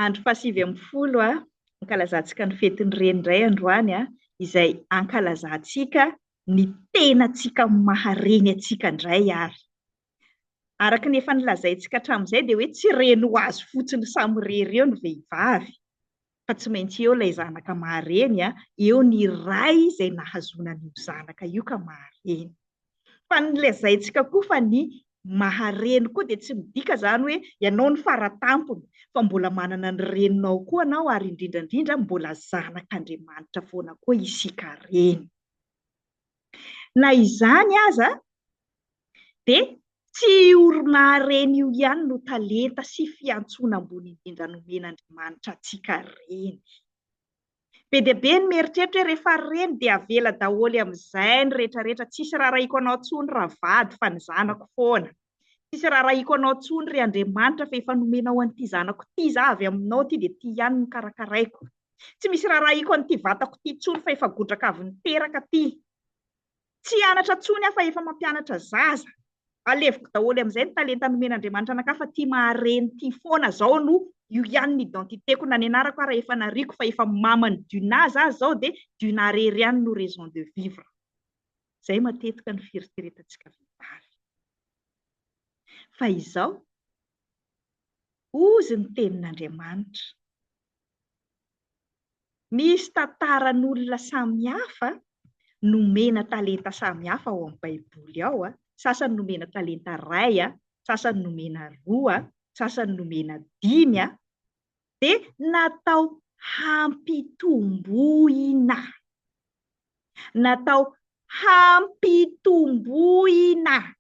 Andro fahasivy ambin'ny folo a, ankalazantsika ny fetin'ny Reny indray androany a, izay ankalazantsika ny tenantsika maha Reny antsika indray ary. Araka ny efa nilazaintsika hatramin'izay dia hoe tsy Reny ho azy fotsiny samirery eo ny vehivavy. fa tsy maintsy eo ilay zanaka mahareny a, eo ny ray izay nahazoana an'io zanaka io ka mahareny. Fa ny lazaintsika koa fa ny mahareny koa dia tsy midika izany hoe ianao no faratampony fa mbola manana ny reninao koa ianao ary indrindra indrindra mbola zanak'Andriamanitra foana koa isika reny. Na izany aza dia tsy io oronaharena io ihany no talenta sy fiantsoana ambony indrindra nomen'Andriamanitra antsika reny. Be dia be ny mieritreritra hoe rehefa reny dia avela daholo amin'izay ny rehetrarehetra, tsisy raharahiako anao intsony ravady fa ny zanako foana. Tsisy raharahiako anao intsony ry Andriamanitra fa efa nomenao an'ity zanako ity izaho avy aminao ity dia ity ihany no karakaraiko. Tsy misy raharahiako an'ity vatako ity intsony fa efa godraka avy niteraka ity. Tsy hianatra intsony aho fa efa mampianatra zaza. Aleviko daholo amin'izay ny talenta nomen'Andriamanitra anakahy fa ity maha-reny ity foana izao no io ihany ny identité-ko na ny anarako ara efa nariako fa efa maman'i Duna zaho izao dia Duna rery ihany no raison de vivre. Izay matetika no fieritreretantsika vehivavy. Fa izao, hozy ny tenin'Andriamanitra, misy tantaran'olona samihafa nomena talenta samihafa ao amin'ny Baiboly ao, sasany nomena talenta iray, sasany nomena roa, sasany nomena dimy, dia natao hampitomboina. Natao hampitomboina.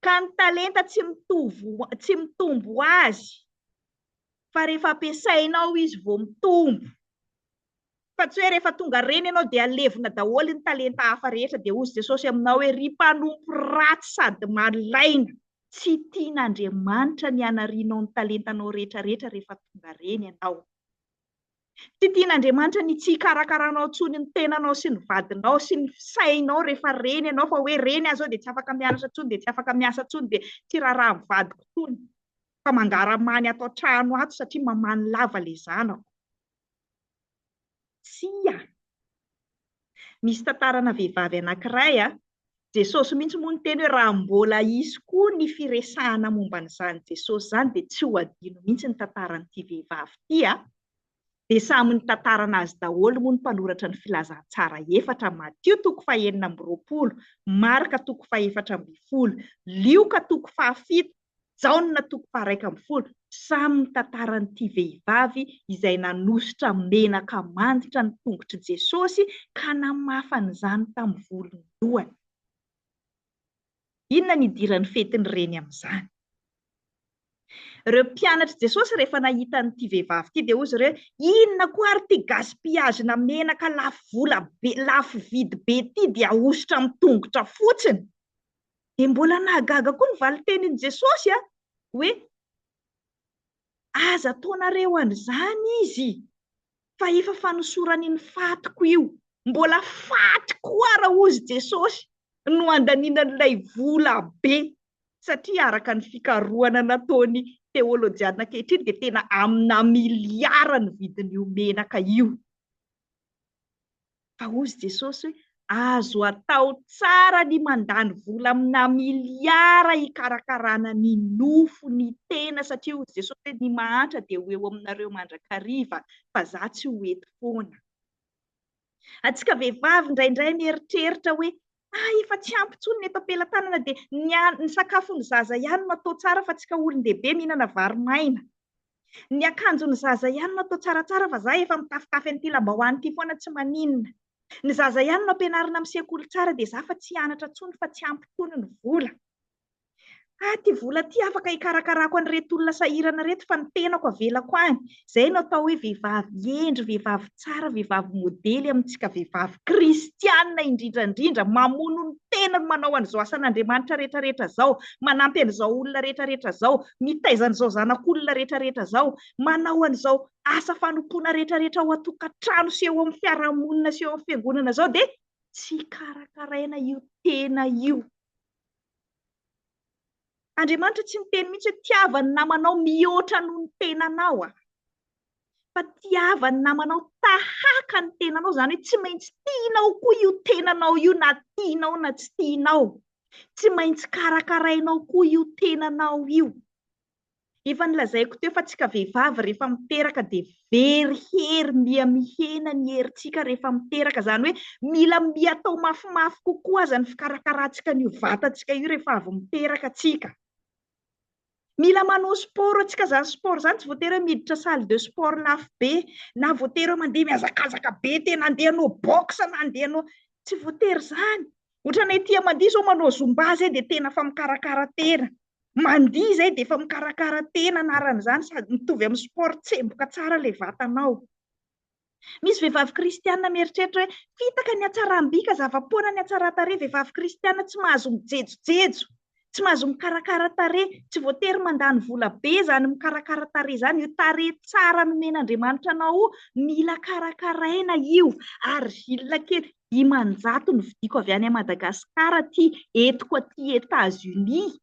Ka ny talenta tsy mitovy, tsy mitombo ho azy, fa rehefa ampiasainao izy vao mitombo. Fa tsy hoe rehefa tonga reny ianao dia levona daholo ny talenta hafa rehetra dia hozy Jesosy aminao hoe ry mpanompo ratsy sady malaina, tsy tian'Andriamanitra ny hanarianao ny talentanao rehetra rehetra rehefa tonga reny ianao. Tsy tian'Andriamanitra ny tsy hikarakaranao intsony ny tenanao sy ny vadinao sy ny sainao rehefa reny ianao fa hoe reny aho izao dia tsy afaka mianatra intsony dia tsy afaka miasa intsony dia tsy raharaha amin'ny vadiko intsony fa mangaramany ato an-trano ato satria mamany lava ilay zanako. Tsia. Misy tantarana vehivavy anankiray a, Jesosy mihitsy moa niteny hoe raha mbola hisy koa ny firesahana momba an'izany Jesosy izany dia tsy ho adino mihitsy ny tantaran'ity vehivavy ity a. Dia samy nitantara an'azy daholo moa ny mpanoratra ny Filazantsara efatra, Matio toko fahenina amby roapolo, Marka toko fahefatra ambin'ny folo, Lioka toko fahafito, Jaona toko faha-iraika ambin'ny folo, samy mitantara an'ity vehivavy izay nanosotra menaka manditra ny tongotr'i Jesosy ka namafa an'izany tamin'ny volon-dohany. Inona no idiran'ny fetin'ny reny amin'izany? Ireo mpianatr'i Jesosy rehefa nahita an'ity vehivavy ity dia hoy izy ireo, inona koa ary ity gaspillage-na menaka lafo vola be, lafo vidy be ity dia ahosotra amin'ny tongotra fotsiny? Dia mbola nahagaga koa ny valintenin'i Jesosy a! hoe, Aza ataonareo an'izany izy, fa efa fanosorany ny fatiko io. Mbola faty koa ary hozy Jesosy no handaniana an'ilay vola be, satria araka ny fikarohana nataon'ny teolojiana ankehitriny dia tena amina miliara ny vidin'io menaka io. Fa hozy Jesosy hoe, Azo atao tsara ny mandany vola amina miliara hikarakarana ny nofo, ny tena, satria hozy Jesosy hoe, ny mahantra dia ho eo aminareo mandrakariva, fa za tsy ho eto foana. Antsika vehivavy indraindray mieritreritra hoe, ah efa tsy ampy intsony ny eto am-pelatanana dia ny sakafo ny zaza ihany no atao tsara fa antsika olon-dehibe mihinana vary maina. Ny akanjon'ny zaza ihany no atao tsaratsara fa za efa mitafitafy an'ity lambahoany ity foana tsy maninona. Ny zaza ihany no ampianarina misekoly tsara dia za fa tsy hianatra intsony fa tsy ampy intsony ny vola. Ah ity vola ity afaka hikarakarako an'ireto olona sahirana ireto fa ny tenako avelako any. Izay no atao hoe vehivavy hendry, vehivavy tsara vehivavy modely amintsika vehivavy kristianina indrindra indrindra mamono ny tenany manao an'izao asan'Andriamanitra rehetra rehetra izao manampy an'izao olona rehetra rehetra izao mitaiza an'izao zanak'olona rehetra rehetra izao manao an'izao asa fanompoana rehetra rehetra ao an-tokantrano sy eo amin'ny fiarahamonina sy eo amin'ny fiangonana izao dia tsy karakaraina io tena io Andriamanitra tsy miteny mihitsy hoe tiava ny namanao mihoatra noho ny tenanao a. Fa tiava ny namanao tahaka ny tenanao, izany hoe tsy maintsy tianao koa io tenanao io na tianao na tsy tianao. Tsy maintsy karakarainao koa io tenanao io. Efa nolazaiko teo fa tsika vehivavy rehefa miteraka dia very hery, miha mihena ny herintsika rehefa miteraka, izany hoe mila miha atao mafimafy kokoa aza ny fikarakarantsika an'io vatantsika io rehefa avy miteraka tsika. Mila manao sport antsika, izany sport izany tsy voatery hoe miditra salle de sport lafo be, na voatery hoe mandeha mihazakazaka be tena, handeha hanao boxe na handeha hanao, tsy voatery izany, ohatranay ety amandia izao manao zumba izay dia tena efa mikarakara tena, Mandihy izay dia efa mikarakara tena anaran'izany sady mitovy amin'ny sport tsemboka tsara ilay vatanao. Misy vehivavy kristiana mieritreritra hoe fitaka ny hatsaram-bika, zava-poana ny hatsaran-tarehy, vehivavy kristiana tsy mahazo mijejojejo, tsy mahazo mikarakara tarehy, tsy voatery mandany vola be izany mikarakara tarehy izany, io tarehy tsara nomen'Andriamanitra anao io mila karakaraina io ary vilona kely. dimanjato no vidiko avy any Madagascar aty entiko aty Etats Unis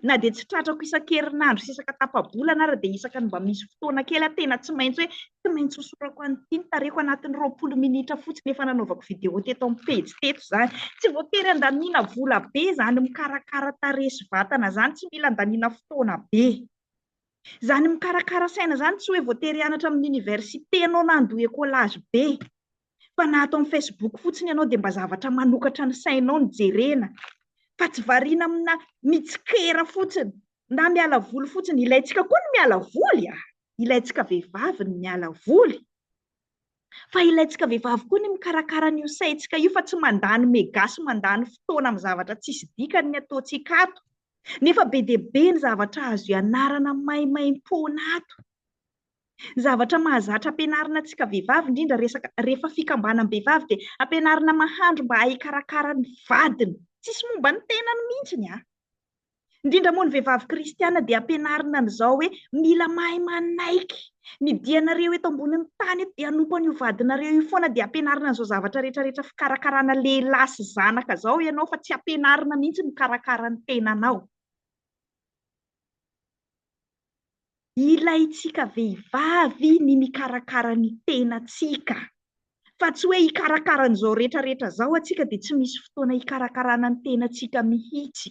na dia tsy tratrako isan-kerinandro sy isaka tapa-bolana ary dia isaka ny mba misy fotoana kely aho tena tsy maintsy hoe tsy maintsy hosorako an'ity ny tarehiko anatin'ny roapolo minitra fotsiny efa nanaovako video teto amin'ny pejy teto izany tsy voatery andaniana vola be izany mikarakara tarehy sy vatana izany tsy mila andaniana fotoana be izany mikarakara saina izany tsy hoe voatery hianatra amin'ny oniversite ianao na handoa ekolage be fa na ato amin'ny Facebook fotsiny ianao dia mba zavatra manokatra ny sainao no jerena fa tsy variana amina mitsikera fotsiny na miala voly fotsiny. Ilaintsika koa ny miala voly a! Ilaintsika vehivavy ny miala voly fa ilaintsika vehivavy koa ny mikarakara an'io saintsika io fa tsy mandany mega sy mandany fotoana amin'ny zavatra tsisy dikany ny ataontsika ato nefa be dia be ny zavatra azo ianarana maimaimpoana ato. Ny zavatra mahazatra ampianarina antsika vehivavy indrindra resaka rehefa fikambanam-behivavy dia ampianarina mahandro mba hikarakara ny vadiny. Tsisy momba ny tenany mihitsy ny ahy. Indrindra moa ny vehivavy kristiana dia ampianarina an'izao hoe mila mahay manaiky. Ny dianareo eto ambonin'ny tany eto dia hanompo an'io vadinareo io foana dia ampianarina an'izao zavatra rehetra rehetra fikarakarana lehilahy sy zanaka izao ianao fa tsy ampianarina mihitsy mikarakara ny tenanao. Ilaintsika vehivavy ny mikarakara ny tenantsika, fa tsy hoe hikarakara an'izao rehetra rehetra izao antsika dia tsy misy fotoana hikarakarana ny tenantsika mihitsy.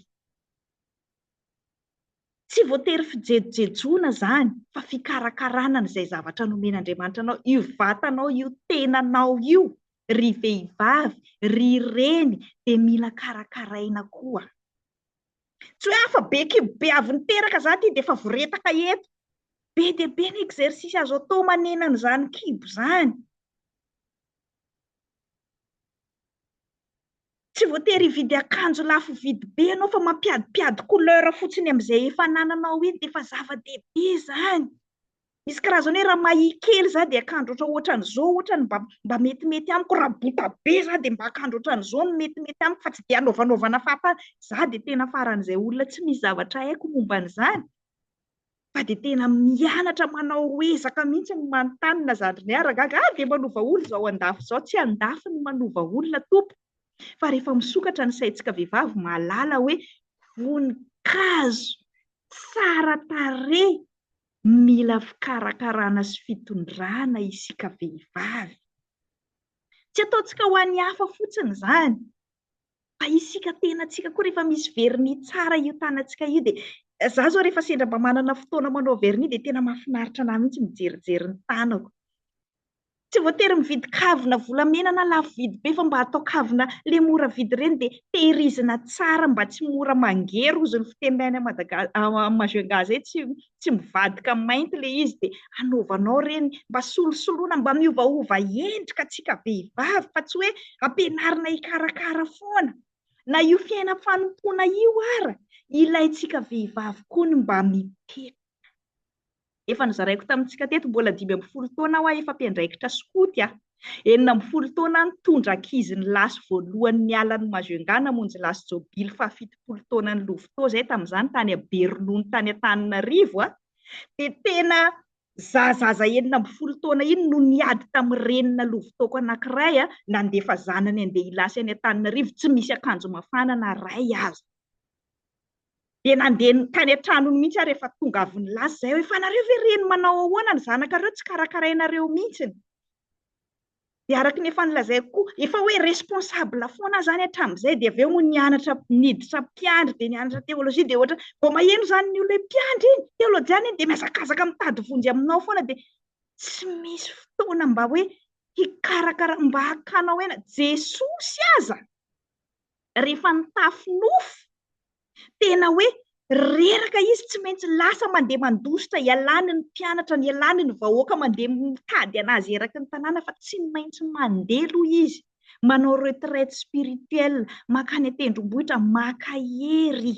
Tsy voatery fijejojejoana izany fa fikarakarana an'izay zavatra nomen'Andriamanitra anao, io vatanao io, tenanao io, ry vehivavy, ry reny dia mila karakaraina koa. Tsy hoe afa be kibo be avy niteraka za ty dia efa voretaka eto. Be dia be ny exercice azo atao manena an'izany kibo izany. Tsy voatery hividy akanjo lafo vidy be ianao fa mampiadimpiady couleur fotsiny amin'izay efa anananao iny dia efa zava-dehibe izany. Misy karazany hoe raha mahia kely za dia akandro ohatra ohatran'izao ohatra ny mba mba metimety amiko, raha bota be za dia mba akandro ohatran'izao no metimety amiko fa tsy dia anaovanaovana fahatany. Za dia tena faran'izay olona tsy misy zavatra haiko momba an'izany fa dia tena mianatra manao ezaka mihitsy ny manontany na zandry niaraka gaga ah dia manova olona izao andafy izao, tsy andafy no manova olona tompoko fa rehefa misokatra ny saintsika vehivavy mahalala hoe voninkazo tsara tarehy Mila fikarakarana sy fitondrana isika vehivavy. Tsy ataontsika ho an'ny hafa fotsiny izany, fa isika tenantsika koa rehefa misy vernis tsara io tanantsika io dia, izaho izao rehefa sendra mba manana fotoana manao vernis dia tena mahafinaritra an'ahy mihitsy ny mijerijery ny tanako. Tsy voatery mividy kavina volamena na lafo vidy be fa mba atao kavina le mora vidy ireny dia tehirizina tsara mba tsy mora mangery ozy ny fiteny any Madagascar Majunga zay tsy tsy mivadika mainty le izy dia anaovanao ireny mba solosoloina mba miovaova endrika antsika vehivavy fa tsy hoe ampianarina hikarakara foana na io fiainam fanompoana io ara ilaintsika vehivavy koa ny mba mipetraka. Efa nozaraiko tamintsika teto, mbola dimy ambin'ny folo taona aho efa mpiandraikitra skoty a! Enina ambin'ny folo taona aho nitondra ankizy nilasy voalohany niala an'i Majunga namonjy lasy jobily fahafitopolo taonan'i Lovito izay tamin'izany tany Aberonono tany Antananarivo a! Dia tena za zaza enina ambin'ny folo taona iny no niady tamin'ny renina Lovitoko anankiray a, nandefa zanany handeha hilasy any Antananarivo tsy misy akanjo mafana na iray aza. dia nandeha tany an-tranony mihitsy aho rehefa tonga avy nilaza izay hoe, fa nareo ve reny manao ahoana ny zanakareo tsy karakarainareo mihitsy? Dia araka ny efa nolazaiko koa, efa hoe responsable foana aho izany hatramin'izay, dia avy eo moa nianatra niditra mpiandry, dia nianatra teolojia, dia ohatra, vao maheno izany ny olona hoe mpiandry iny, teolojiana iny, dia mihazakazaka mitady vonjy aminao foana, dia tsy misy fotoana mba hoe hikarakara, mba hakana ho aina, Jesosy aza! rehefa nitafy nofo, tena hoe reraka izy tsy maintsy lasa mandeha mandositra ialany ny mpianatra ny ialany ny vahoaka mandeha mitady anazy eraky ny tanàna fa tsy maintsy mandeha aloha izy manao retraite spirituelle mankany an-tendrombohitra maka hery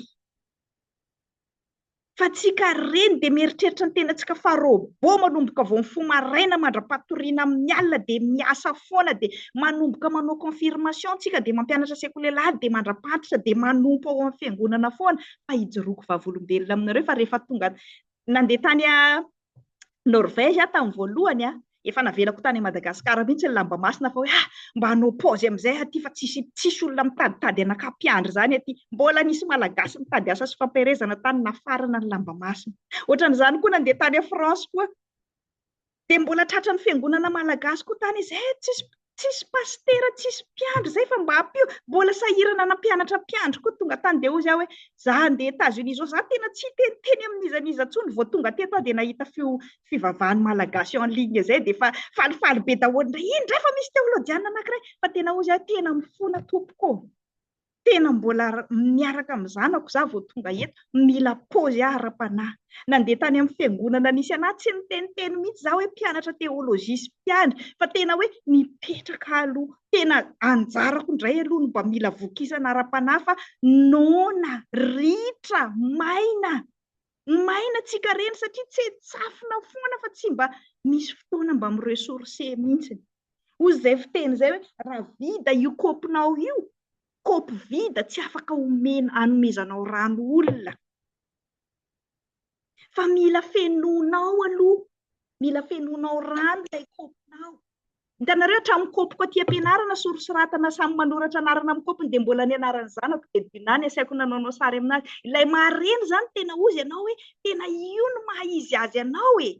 fa tsika reny dia mieritreritra ny tenantsika fa robot manomboka vao mifoha maraina mandra-patoriana amin'ny alina dia miasa foana dia manomboka manao confirmation tsika dia mampianatra sekoly alahady dia mandra-pantitra dia manompo ao amin'ny fiangonana foana fa hijoroako vavolombelona aminareo fa rehefa tonga nandeha tany Norvège aho tamin'ny voalohany a, efa navelako tany Madagascar mihitsy ny lamba masina fa hoe ah mba hanao paozy amin'izay aty fa tsisy tsisy olona mitaditady anaka mpiandry izany aty, mbola nisy malagasy nitady asa sy fampiherezana tany nafarana ny lamba masina. Ohatran'izany koa nandeha tany France koa dia mbola tratran'ny fiangonana malagasy koa tany izy, eh tsisy Tsisy pasitera, tsisy mpiandry zay fa mba ampio. Mbola sahirana nampianatra mpiandry koa tonga tany dia hozy aho hoe za handeha Etats Unis izao, za tena tsy hiteniteny amin'iza n'iza intsony vao tonga teto aho dia nahita feo fivavahan'ny Malagasy en ligne izay dia efa falifaly be daholo indray, iny indray fa misy teolojianina anankiray fa tena hozy aho hoe tena mifona tompoko ô! tena mbola miaraka amin'ny zanako za vao tonga eto, mila paozy aho ara-panahy. Nandeha tany amin'ny fiangonana nisy an'ahy, tsy niteniteny mihitsy za hoe mpianatra teolojia sy mpiandry, fa tena hoe nipetraka aloha, tena anjarako indray aloha no mba mila vokisana ara-panahy fa noana, ritra, maina. Maina tsikarena satria tsetsafina foana fa tsy mba misy fotoana mba mi-ressourcer mihitsiny. Hozy izay fiteny izay hoe raha vida io kaopinao io, kaopy vida tsy afaka omena, anomezanao rano olona. Fa mila fenoinao aloha, mila fenoinao rano ilay kaopinao. Hitanareo hatramin'ny kopiko aty am-pianarana sorisoratana samy manoratra anarana amin'ny kopiny dia mbola ny anaran'ny zanako dia Dinah ny asaiko nanaonao sary aminazy. Ilay mahareny izany tena ozy ianao hoe tena io no maha izy azy anao e!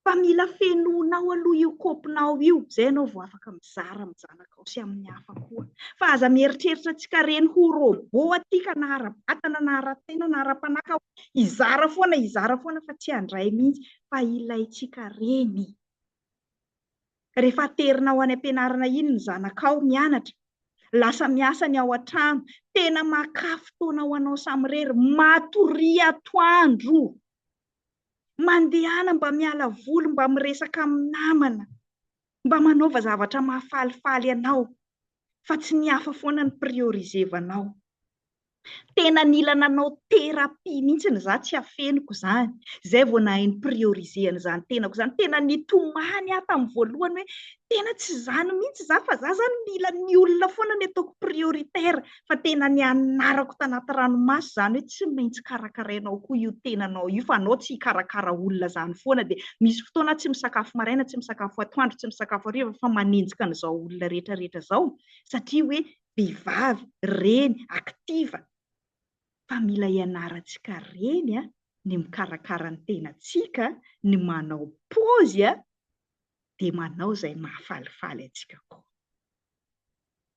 Fa mila fenoinao aloha io kopinao io izay ianao vao afaka mizara amin'ny zanakao sy amin'ny hafa koa. Fa aza mieritreritra antsika reny ho robot aty ka na ara-batana na ara-tsaina na ara-panahy ka hoe hizara foana hizara foana fa tsy handray mihitsy fa ilaintsika reny. Rehefa aterina ao any am-pianarana iny ny zanakao mianatra, lasa miasa ny ao an-trano, tena makà fotoana ho anao samirery, matoria atoandro, mandehana mba miala voly, mba miresaka amin'ny namana, mba manaova zavatra mahafalifaly anao, fa tsy ny hafa foana no prioriser-vanao. Tena nila nanao thérapie mihitsy ny za tsy afeniko izany, izay vao nahay ny prioriser an'izany tenako izany. Tena nitomany aho tamin'ny voalohany hoe tena tsy izany mihitsy za fa za izany mila ny olona foana no ataoko prioritaire fa tena nianarako tanaty ranomaso izany hoe tsy maintsy karakarainao koa io tenanao io fa anao tsy hikarakara olona izany foana dia misy fotoana tsy misakafo maraina, tsy misakafo atoandro, tsy misakafo hariva fa manenjika an'izao olona rehetra rehetra izao satria hoe vehivavy, reny, active, fa mila ianarantsika reny a, ny mikarakara ny tenantsika, ny manao pôzy a, dia manao izay mahafalifaly antsika koa.